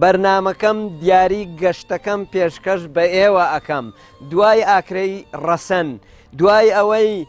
بەرنامەکەم دیاری گەشتەکەم پێشکەش بە ئێوە ئەکەم دوای ئاکرەی ڕەسەن دوای ئەوەی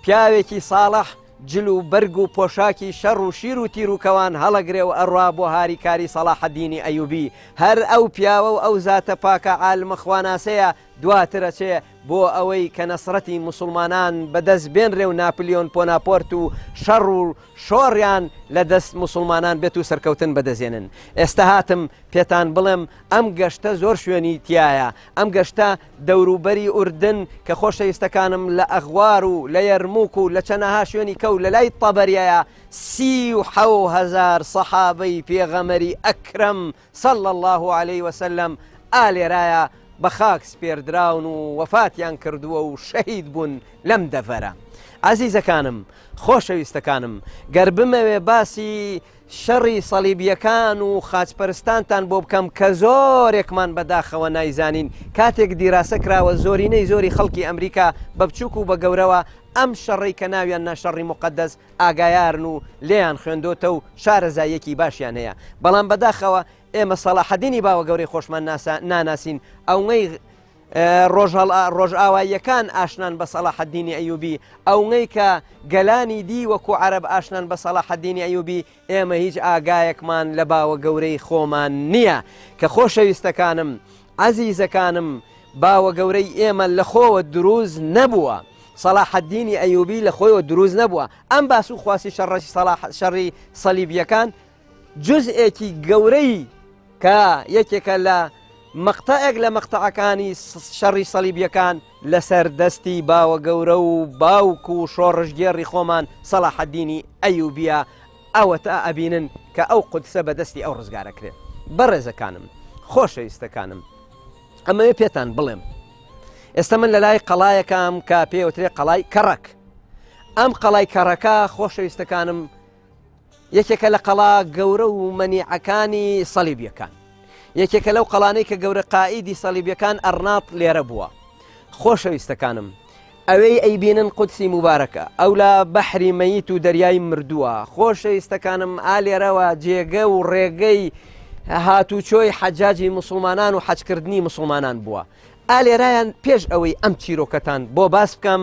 پیاوێکی ساڵح جل و بەرگ و پۆشاکی شەڕ و شیر و تیروکەوان هەڵەگرێ و ئەڕوا بۆ هاریکاری سەڵاحەدینی ئەیوبی هەر ئەو پیاوە و ئەو زاتە پاکە عالمە خواناسەیە دواتر ئەچێ بۆ ئەوەی کە نەسرەتی موسڵمانان بەدەست بێنرێ و ناپلیۆن پۆناپۆرت و شەڕ و شۆڕیان لە دەست موسڵمانان بێت و سەرکەوتن بەدەزێنن ئێستا هاتم پێتان بڵێم ئەم گەشتە زۆر شوێنی تایە ئەم گەشتە دەوروبەری ئوردن کە خۆشەویستەکانم لە ئەغوار و لە یەرموک و لە چەنەها شوێنی کەو لە لای تەبەریایە سی و حەوهزار سەحابەی پێغەمەری ئەکرەم و صلی اللە علیە وسلم، ئا لێرایە بەخاک سپێردراون و وەفاتیان کردووە و شەهید بوون لەم دەڤەرە. ئازیزەکانم، خۆشەویستەکانم، گەر بمەوێ باسی شەڕی صەلیبیەکان و خاچپەرستانتان بۆ بکەم کە زۆرێکمان بەداخەوە نایزانین کاتێک دیراسە کراوە زۆرینەی زۆری خەڵکی ئەمریکا بە بچوک و بە گەورەوە ئەم شەڕەی کە ناویان نا شەڕی موقەدەس ئاگایارن و لێیان خوێندۆتە و شارەزاییەکی باشیان هەیە بەڵام بەداخەوە ئێمە سەڵاحەدینی باوە گەورەی خۆشمان ناسا ناناسین ئەونەی ڕۆژهڵ ڕۆژئاواییەکان ئاشنان بە سەڵاحەدینی ئەیوبی ئەونەی کە گەلانی دی وەکو عرب ئاشنان بە سەڵاحەدینی ئەیوبی ئێمە هیچ ئاگایەکمان لە باوە گەورەی خۆمان نییە کە خۆشەویستەکانم، عەزیزەکانم، باوە گەورەی ئێمە لە خۆوە دروست نەبووە، سەڵاحەدینی ئەیوبی لە خۆیەوە دروست نەبووە، ئەم باس و خواسی شەڕی سەڵاح شەڕی سەلیبییەکان جزئێکی گەورەی کە یەکێکە لە مەقتەعێک لە مەقتەعەکانی شەڕی سەلیبییەکان، لەسەر دەستی باوە گەورە و باوک و شۆڕشگێڕی خۆمان سەڵاحەدینی ئەیوبیە ئەوەتا ئەبینن کە ئەو قودسە بە دەستی ئەو ڕزگارەکرێت بەڕێزەکانم خۆشەویستەکانم ئەمەوێ پێتان بڵێم ئێستا من لە لای قەڵایەکەم کە پێوترێ قەڵای کەڕک ئەم قەڵای کەڕەکە خۆشەویستەکانم یەکێکە لە قەڵا گەورە و مەنیعەکانی سەلیبیەکان یەکێکە لەو قەڵانەی کە گەورە قائیدی سەلیبیەکان ئەرناط لێرە بووە خۆشەویستەکانم ئەوەی ئەیبینن قودسی مبارەکە ئەو لە بەحری مەیت و دەریای مردووە خۆشەویستەکانم ئالێرەوە جێگە و ڕێگەی هاتوچۆی حەجاجی مسلمانان و حەجکردنی مسلمانان بووە ئالێرایان پێش ئەوەی ئەم چیرۆکەتان بۆ باس بکەم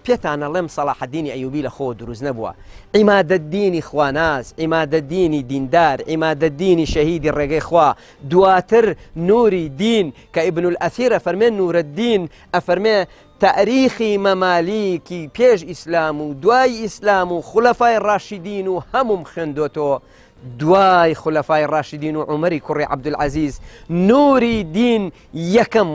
پێتان ئەڵێم سەڵاحەدینی ئەیوبی لە خۆوە دروست نەبووە، عیمادەدینی خواناس، عیمادەدینی دیندار، عیمادەدینی شەهیدی ڕێگەی خوا، دواتر نوری دین، کە ئیبن الئەثیر ئەفەرمێ نورەدین ئەفەرمێ تاریخی مەمالیکی پێش ئیسلام و دوای ئیسلام و خولەفای ڕاشیدین و هەمووم خوێندۆتۆ دوای خولەفای ڕاشیدین و عومەری کوڕی عەبدولعەزیز نوری دین یەکەم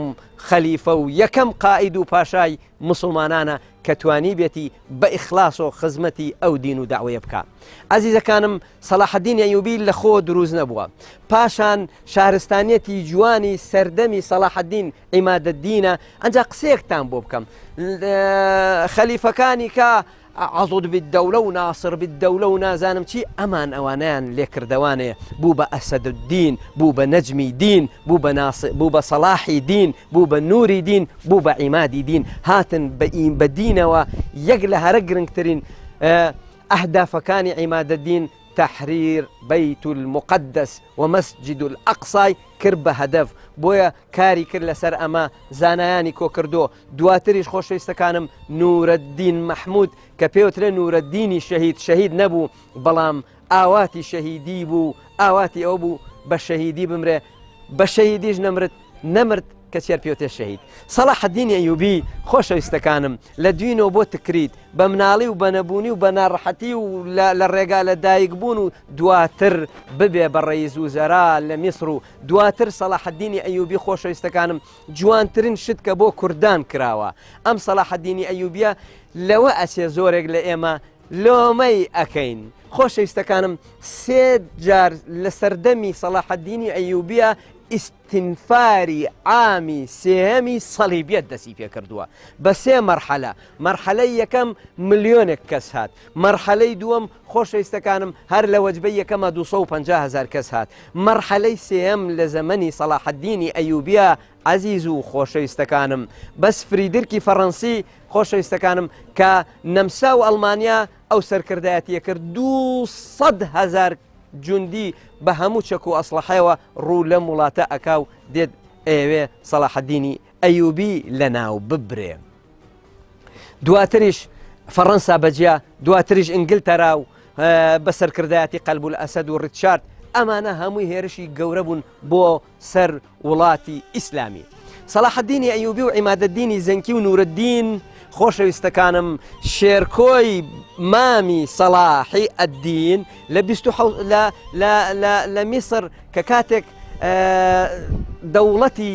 خەلیفە و یەکەم قائید و پاشای موسڵمانانە کە توانیبێتی بە ئیخلاس و خزمەتی ئەو دین و داوەیە بکە ئازیزەکانم سەلاحدین ئەیوبی لە خۆ دروست نەبووە پاشان شارستانیەتی جوانی سەردەمی سەلاحدین ئیمادە دینە ئەجا قسێکتان بۆ بکەم خەلیفەکانی کە عضد بالدولە و ناصر بالدولە و نازانم چی ئەمان ئەوانەیان لێکردەوانێ بوو بە ئەسەد الدین بوو بە نەجمی دین بوو بە ناصر بوو بە صلاحی دین بوو بە نوری دین بوو بە عیمادی دین هاتن بە ئیم بە دینەوە یەک لە هەرە گرنگترین ئەهدافەکانی عیمادە دین تحریر بیت المقدس و مەسجد الاقصای کرد بە هەدەف بۆیە کاری کرد لەسەر ئەمە زانایانی کۆکردو دواتریش خۆشەویستەکانم نورەدین مەحمود کە پێوترێ نورەدینی شەهید شەهید نەبوو بەڵام ئاواتی شەهیدی بوو ئاواتی ئەو بوو بە شەهیدی بمرێ بە شەهیدیش نەمرت نەمرد کە چێر پێوتێ شەهید سەڵا حەدینی ئەیوبی خۆشەویستەکانم لە دوینەوە بۆ تکریت بە مناڵی و بەنەبوونی و بە ناڕەحەتی و لە ڕێگا لە دایک بوون و دواتر ببێ بە ڕێیز و زەرا لە میسر و دواتر سەڵا حەدینی ئەیوبی خۆشەویستەکانم جوانترین شت کە بۆ کوردان کراوە ئەم سەلاحەدینی ئەیوبیە لەوە ئەچێ زۆرێک لە ئێمە لۆمەی ئەەکەین خۆشەویستەکانم سێ جار لە سەردەمی سەلاحەدینی ئەیوبیە ئیسینفاری ئامی سێهەمی سەلیبیت دەسی پێ کردووە بە سێ مەرحەلە مەرحەلەی یەکەم ملیۆنێک کەس هات مەرحەلەی دووەم خۆشەویستەکانم هەر لە وەجبەی یەکەما دوو سەد و پەنجا هەزار کەس هات مەرحەلەی سێیەم لە زەمەنی سەڵاحەدینی ئەیوبیە عەزیز و خۆشەویستەکانم بەس فریدرکی فەڕەنسی خۆشەویستەکانم کە نەمسا و ئەڵمانیا ئەو سەرکردایەتیە کرد دوو سەد هەزار جوندی بە هەموو چەک و ئەسڵەحەوە ڕوو لەم وڵاتە ئەکا و دێت ئەیەوێ سەڵاحەدینی ئەیوبی لەناو ببرێ دواتریش فەڕەنسا بەجیا دواتریش ئنگلتەرا و بە سەرکردایەتی قەلبول ئەسەد و ڕیچارد ئەمانە هەمووی هێرشی گەورە بوون بۆ سەر وڵاتی ئیسلامی سەلاحدینی ئەیوبی و عیمادەدینی زەنکی و نورەدین خۆشەویستەکانم شێرکۆی مامی سەلاحی ئەدین لە لە میسر کە کاتێک دەوڵەتی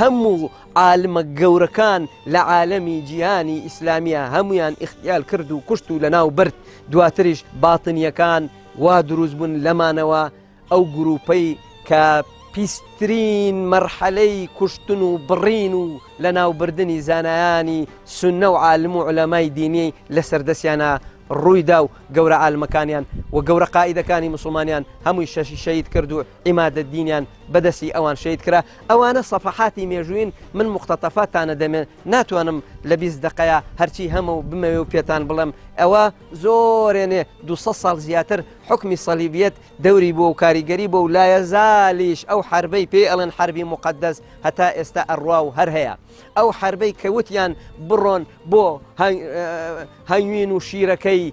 هەموو عالمە گەورەکان لە عالەمی جیهانی ئیسلامیە هەمویان اختیال کرد و کوشت و لەناو برد دواتریش باتنیەکان وا دروست بوون لەمانەوە ئەو گروپەی کە پیسترین مەرحەلەی کوشتن و بڕین و لە ناوبردنی زانایانی سنە و عالم و علەمای دینی لە سەردەسیانە ڕوویدا و گەورە عالمەکانیان و گەورە قاعدەکانی مسلمانیان هەمووی شەشی شەید کرد و عیمادەدینیان بەدەستی ئەوان شەید کرا ئەوانە سەفەحاتی مێژووین من مختەتەفا تانە دەمێن ناتوانم لە بیست دقەیە هەرچی هەمە و بمەوێ و پێتان بڵێم ئەوە زۆرێنێ دو ساڵ زیاتر حکمی سەلیبیت دەوری بۆ و کاریگەری بۆ و لایە زالیش ئەو حربەی پێ ئەڵێن حربی مقدەس هەتا ئێستا ئەڕوا و هەر هەیە ئەو حربەی کەوتیان بڕۆن بۆ هەنگوین و شیرەکەی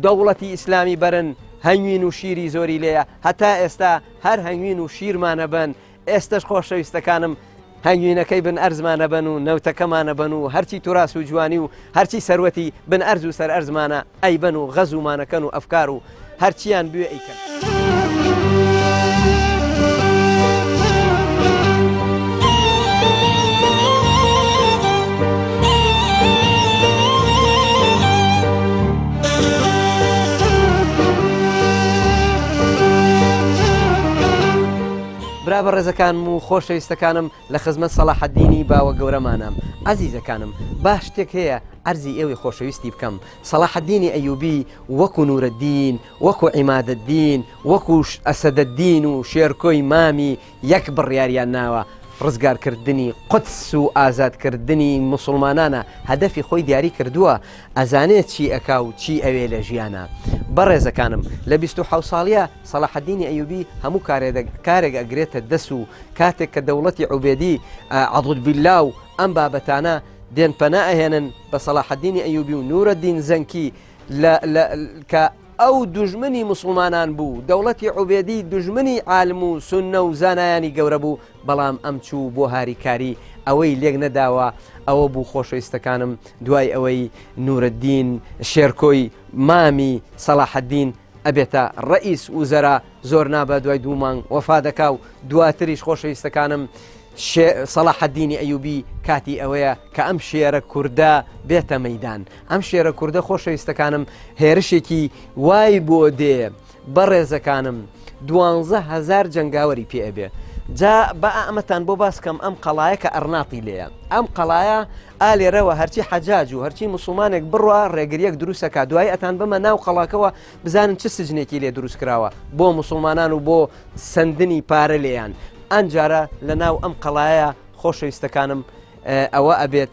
دەوڵەتی ئیسلامی بەرن هەنگوین و شیری زۆری لێە هەتا ئێستا هەر هەنگوین و شیرمانە بن ئێستش خۆشەویستەکانم هەنگوینەکەی بن ئەرزمانە بن و نەوتەکەمانە بن و هەرچی توراس و جوانی و هەرچی سەروەتی بن ئەرز و سەر ئەرزمانە ئەیبەن و غەزومانەکەن و ئەفکار و هەرچیان بوێ ئەیکەن. برا بە ڕێزەکانم و خۆشەویستەکانم لە خزمەت سەڵاحەدینی باوە گەورەمانام. ئازیزەکانم با شتێک هەیە عەرزی ئێوەی خۆشەویستی بکەم، سەڵاحەدینی ئەیوبی وەکو نورەدین، وەکو عیمادەدین، وەکو ئەسەدەدین و شێرکۆی مامی یەک بڕیاریان ناوە، ڕزگارکردنی قودس و ئازادکردنی موسوڵمانانە، هەدەفی خۆی دیاری کردووە، ئەزانێ چی ئەکا و چی ئەوێ لە ژیانا. بەڕێزەکانم لە بیست و حەوت ساڵیا سەڵاحەدینی ئەیوبی هەموو کارێک ئەگرێتە دەس و کاتێک کە دەوڵەتی عوبێدی عەدود بیللا و ئەم بابەتانە دێن پەنا ئەهێنن بە سەڵاحەدینی ئەیوبی و نورەدین زەنکی کە ئەو دوژمنی موسڵمانان بوو دەوڵەتی عوبێدی دوژمنی عالم و سوننە و زانایانی گەورە بوو بەڵام ئەم چوو بۆ هاریکاری ئەوەی لێک نەداوە ئەوە بوو خۆشەویستەکانم دوای ئەوەی نورەدین شێرکۆی مامی سەڵاحەدین ئەبێتە ڕەئیس وزەرا زۆر نابە دوای دوو مانگ وەفا دەکا و دواتریش خۆشەویستەکانم سەڵاحەدینی ئەیوبی کاتی ئەوەیە کە ئەم شێرە کووردە بێتە مەدان ئەم شێرە کووردە خۆشەویستەکانم هێرشێکی وای بۆ دێ بەڕێزەکانم دوانزە هەزار جەنگاوەری پێ ئەبێ جا بە ئەمەتان بۆ باس کەم ئەم قەڵایە کە ئەرناتی لێە ئەم قەڵایە ئالێرەوە هەرچی حەجاج و هەرچی مسلمانێک بڕە ڕێگریەک دروستەکە دوای ئەتان بمە ناو قەڵاکەوە بزانن چ سجنێکی لێ دروست کراوە بۆ مسلمانان و بۆ سندنی پارە لێیان ئەنجارە لە ناو ئەم قەڵایە خۆشەویستەکانم ئەوە ئەبێت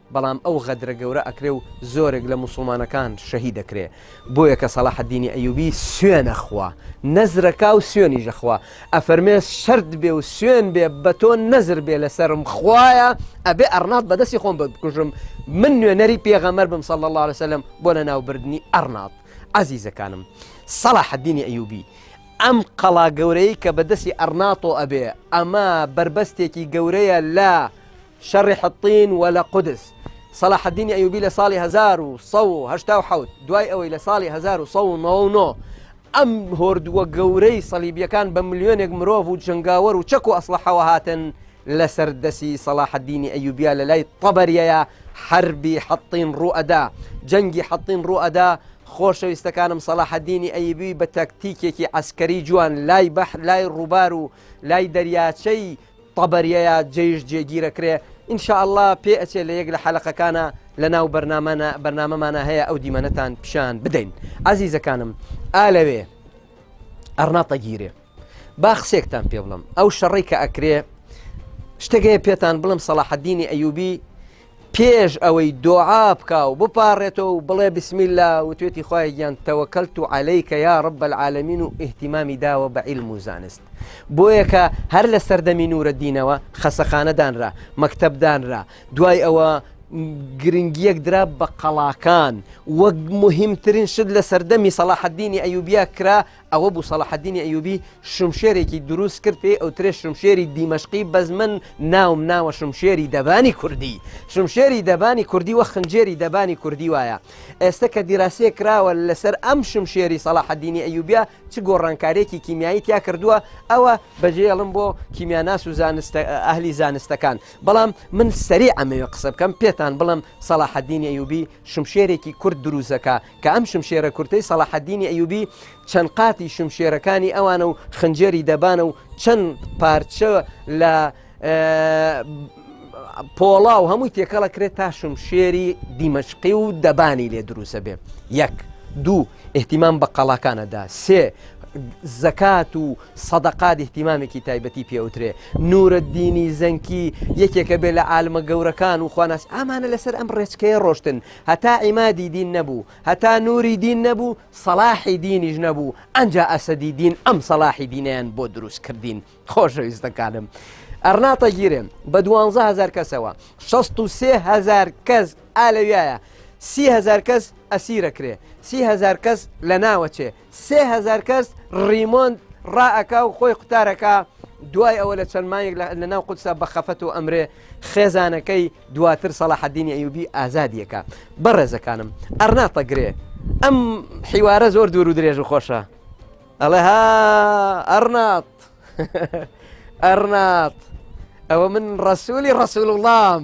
بەڵام ئەو غەدرە گەورە ئەکرێ و زۆرێک لە موسڵمانەکان شەهید ئەکرێ بۆیە کە سەڵاح الدینی ئەیوبی سوێن ئەخوا نەزر ئەکا و سوێنیش ئەخوا ئەفەرمێ شەرت بێ و سوێن بێ بە تۆ نەزر بێ لە سەرم خوایە ئەبێ ئەڕناط بە دەستی خۆم بکوژم من نوێنەری پێغەمبەر بم صلی اللە علیە وسلم بۆ لە ناو بردنی ئەڕناط عەزیزەکانم سەڵاح الدینی ئەیوبی ئەم قەڵا گەورەی کە بەدەستی ئەرناتۆ ئەبێ ئەمە بەربەستێکی گەورەیە لە شەڕی حطین و لە قودس. صلاح الدین ایوبی لە ساڵی هەزار و سەد و هەشتا و حەوت دوای ئەوەی لە ساڵی هەزار و سەد و نەوە و نۆ ئەم هۆردووە گەورەی صلیبیەکان بە ملیۆنێک مرۆڤ و جەنگاوەر و چەک و ئەسڵەحەوە هاتن لەسەر دەسی صلاح الدینی ایوبیا لە لای طەبەریەیا حەربی حطین ڕوو ئەدا جەنگی حطین ڕوو ئەدا خۆشەویستەکانم سەلاحەدینی ئەیبی بە تەکتیکێکی ئەسکەری جوان لای بەح لای ڕووبار و لای دەریاچەی طبریە یا جەیش جێگیرە کرێ. ان شاء اللە پێ ئەچێ لە یەک لە حەلەقەکانا لە ناو بەرنامەنا بەرنامەمانا هەیە ئەو دیمەنەتان پیشان بدەین ئازیزەکانم ئا لەوێ ئەڕنا تەگیرێ با قسێکتان پێ بڵم ئەو شەڕی کە ئەکرێ شتێک هەیە پێتان بڵم سەڵاحەدینی ئەیوبی پێش ئەوەی دۆعا بکا و بپاڕێتەوە و بڵێ بسم اللە وتوێتی خوایە گیان تەوەکەلت علیک یا رب العالمین و ئیهتیمامی داوە بە عیلم و زانست بۆیە کە هەر لە سەردەمی نورەدینەوە خەسەخانە دانرا مەکتەب دانرا دوای ئەوە گرنگیەک درا بە قەڵاکان وەک مهمترین شت لە سەردەمی سەلاحدینی ئەیوبیا کرا ئەوە بوو سەڵاحەدینی ئەیوبی شمشێرێکی دروست کرد پێی ئەوترێ شمشێری دیمەشقی بەس من ناوم ناوە شمشێری دەبانی کوردی شمشێری دەبانی کوردی وە خنجێری دەبانی کوردی وایە ئێستا کە دیراسیە کراوە لەسەر ئەم شمشێری سەڵاحەدینی ئەیوبیا چ گۆڕانکارێکی کیمیایی تیا کردووە ئەوە بەجێڵم بۆ کیمیاناس و زانستە ئەهلی زانستەکان بەڵام من سەری ئەمەوێ قسە بکەم پێتان بڵم سەڵاحەدینی ئەیوبی شمشێرێکی کورد دروزەکە کە ئەم شمشێرە کورتەی سەڵاحەدینی ئەیوبی چەند قاتی شمشێرەکانی ئەوانە و خنجێری دەبانە و چەند پارچە لە پۆڵا و هەمووی تێکەڵە کرێت تا شمشێری دیمەشقی و دەبانی لێ دروسە بێ یەک دوو احتیمان بە قەڵاکانەدا سێ زەکات و سەدەقات احتیمامێکی تایبەتی پێوترێ نورە دینی زەنکی یەکێکە بێ لە عالمە گەورەکان و خواناس ئامانە لەسەر ئەم ڕێچکەیە ڕۆشتن هەتا عیمادی دین نەبوو هەتا نوری دین نەبوو سەلاحی دینیش نەبوو ئەجا ئەسەدی دین ئەم سەلاحی دینیان بۆ دروست کردین خۆشەویستەکانم ئەرناتە گیرێن بە دوهزار کەسەوە 16هزار کەس ئالەویایە سیهزار کەس ئەسیرەکرێ سیهزار کەس لە ناوەچێ سێ هەزار کەس ڕیمۆند ڕائەکا و خۆی قوتارەکە دوای ئەوە لە چەند مایەک لە ناو قوتسا بە خەفەت و ئەمرێ خێزانەکەی دواتر سەڵاحدینی ئەیوبی ئازادیەکە بەڕێزەکانم ئەرناتە گرێ ئەم حیوارە زۆر دوور و درێژ و خۆشە ئەڵێ ها ئەرنات ئەرنات ئەوە من ڕسوولی ڕسول وڵام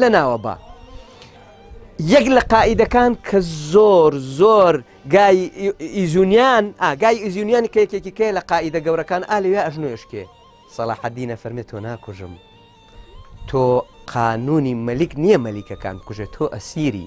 لە ناوە با یەک لە قائیدەکان کە زۆر زۆر ئیزونیان ئاگای ئیزیونیان کە یەکێکی کێ لە قائیدە گەورەکان ئالوێ ئەژنوێشکێ سەڵاحەدینە فەرمێت تۆ ناکوژم تۆ قانونی مەلیک نییە مەلیکەکان کوژێت تۆ ئەسیری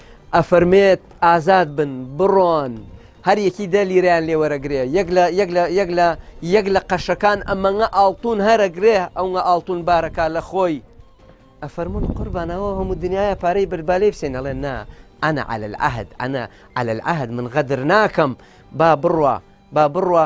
ئەفەرمێت ئازاد بن بڕۆن هەر یەکی دە لیرەیان لێ وەرەگرێ یەک لە یەک لە یەک لە یەک لە قەشەکان ئەمەنگە ئاڵتون هەرەگرێ ئەوە ئاڵتون بارەکە لە خۆی ئەفەرمونون قوربانەوە هەموو دنیاە پارەی بەربالەی بسێن ئەڵێن نا ئەنا على العهد ئەنا على العهد من غەدر ناکەم با بڕە با بڕە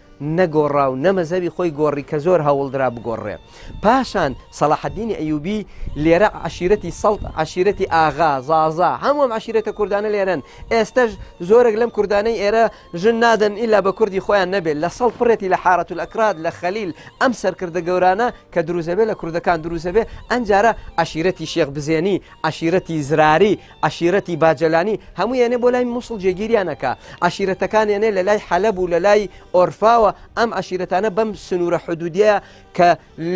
نەگۆڕا و نە مەزهەبی خۆی گۆڕی کە زۆر هەوڵدرا بگۆڕێ. پاشان سەڵاحەدینی ئەیوبی لێرە عەشیرەتی سەڵت، عەشیرەتی ئاغا، زازا، هەموو ئەم عەشیرەتە کوردانە لێرەن. ئێستەش زۆرێک لەم کوردانەی ئێرە ژن نادەن ئیلا بە کوردی خۆیان نەبێ. لە سەڵت پڕێتی لە حارەتولئەکراد، لە خەلیل، ئەم سەرکردە گەورانە کە دروست دەبێ لە کوردەکان دروست دەبێ. ئەنجارە عەشیرەتی شێخ بزێنی، عەشیرەتی زراری، عەشیرەتی باجەلانی هەموو یەێ بۆ لای مووسڵ جێگیریانەکە عشیرەتەکان یەێ لە لای حەلب و لە لای ئۆرفاوە ئەم عشیرەتانە بەم سنوورە حدودیە کە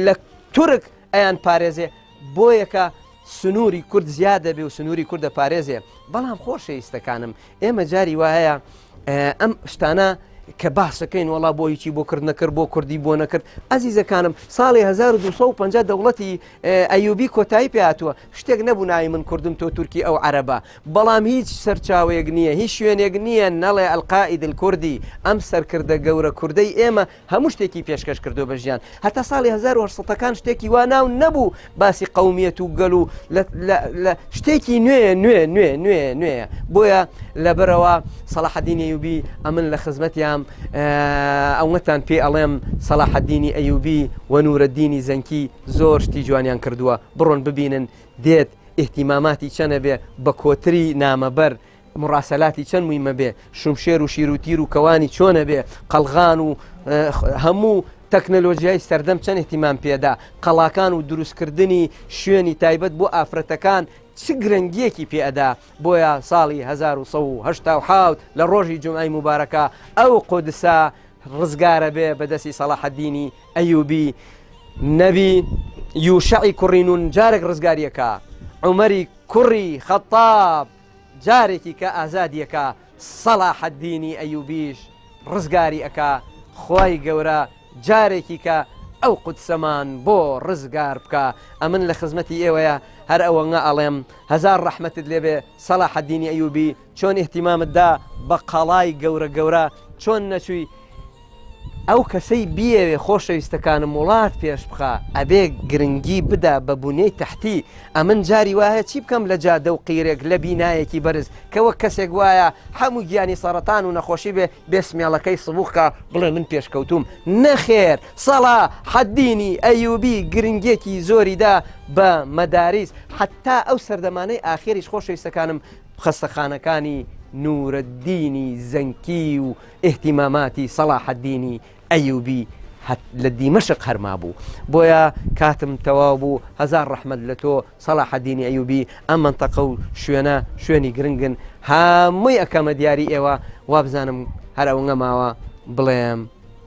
لە تورک ئەیان پارێزێ بۆ یەکە سنووری کورد زیادە بێ و سنووری کوردە پارێزێ بەڵام خۆشەویستەکانم ئێمە جاری وایە ئەم شتانە کە باسەکەین وڵا بۆ هیچی بۆ کرد نەکرد بۆ کوردی بۆ نەکرد ئازیزەکانم ساڵی 1950 دەوڵەتی ئەیوبی کۆتایی پێاتوە شتێک نەبوو ناوی من کوردم تۆ تورکی ئەو عەرەبە بەڵام هیچ سەرچاوەیەک نییە هیچ شوێنێک نییە نەڵێ القائد الکردی ئەم سەرکردە گەورە کوردەی ئێمە هەموو شتێکی پێشکەش کردووە بە ژیان هەتا ساڵی 1970 ەکان شتێکی وا ناو نەبوو باسی قومیەت و گەل و شتێکی نوێ نوێ نوێ نوێ نوێ بۆیە لەبەرەوە سەڵاحدینی یوبی ئەمن لە خزمەتیان ئەوەتان پێ ئەڵێم سەڵاحدینی ئەیوبی وەنورە دینی زەنکی زۆر شتی جوانیان کردووە بڕۆن ببینن دێت ئیهتیماماتی چەنە بێ بە کۆتری نامەبەر مڕاسەلاتی چەند مویمە بێ شمشێر و شیر و تیر و کەوانی چۆنە بێ قەلغان و هەموو تەکنەلۆژیای سەردەم چەند احتیمان پێدا قەڵاکان و دروستکردنی شوێنی تایبەت بۆ ئافرەتەکان چ گرنگیەکی پێدا بۆیە ساڵی 1970 لە ڕۆژی جمعی مبارەکە ئەو قۆدسا ڕزگارە بێ بەدەستی سەڵاحەدینی ئەیوبی نەبی یوشعی کوڕی نون جارێک ڕزگاریەکە عمەری کوڕی خەتاب جارێکی کە ئازادیەکە سەڵاحەدینی ئەیوبیش ڕزگاری ئەکا خی گەورە جارێکی کە ئەو قوتسەمان بۆ ڕزگار بکە ئەمن لە خزمەتی ئێوەیە هەر ئەوەنگە ئەڵێم هزار ڕەحمەتت لێبێ سەڵا حەدینی ئەیوبی چۆن ئیهتیمامت دا بە قەڵای گەورە گەورە چۆن نەچووی ئەو کەسەی بیەوێ خۆشەویستەکانم وڵات پێش بخا ئەبێ گرنگی بدا بە بونیەی تحتی ئەمن جاری وایە چی بکەم لە جادە و قیرێک لە بینایەکی بەرز کەوە کەسێک وایە هەموو گیانی سەرەتان و نەخۆشی بێ بێسمێڵەکەی سبووخکە بڵێ من پێشکەوتوم نەخێر سەڵا حەدینی ئەیوبی گرنگێکی زۆریدا بە مەداریس حتا ئەو سەردەمانەی ئاخێریش خۆشەویستەکانم خەستەخانەکانی نورەدینی زەنکی و ئیهتیماماتی سەڵاحەدینی ئەیوبی لە دیمەشق هەر مابوو بۆیە کاتم تەواو بوو هەزار ڕەحمد لە تۆ سەڵاحەدینی ئەیوبی ئەم منتەقە و شوێنە شوێنی گرنگن هەمووی ئەەکەمە دیاری ئێوە وابزانم هەر ئەوە ماوە بڵێم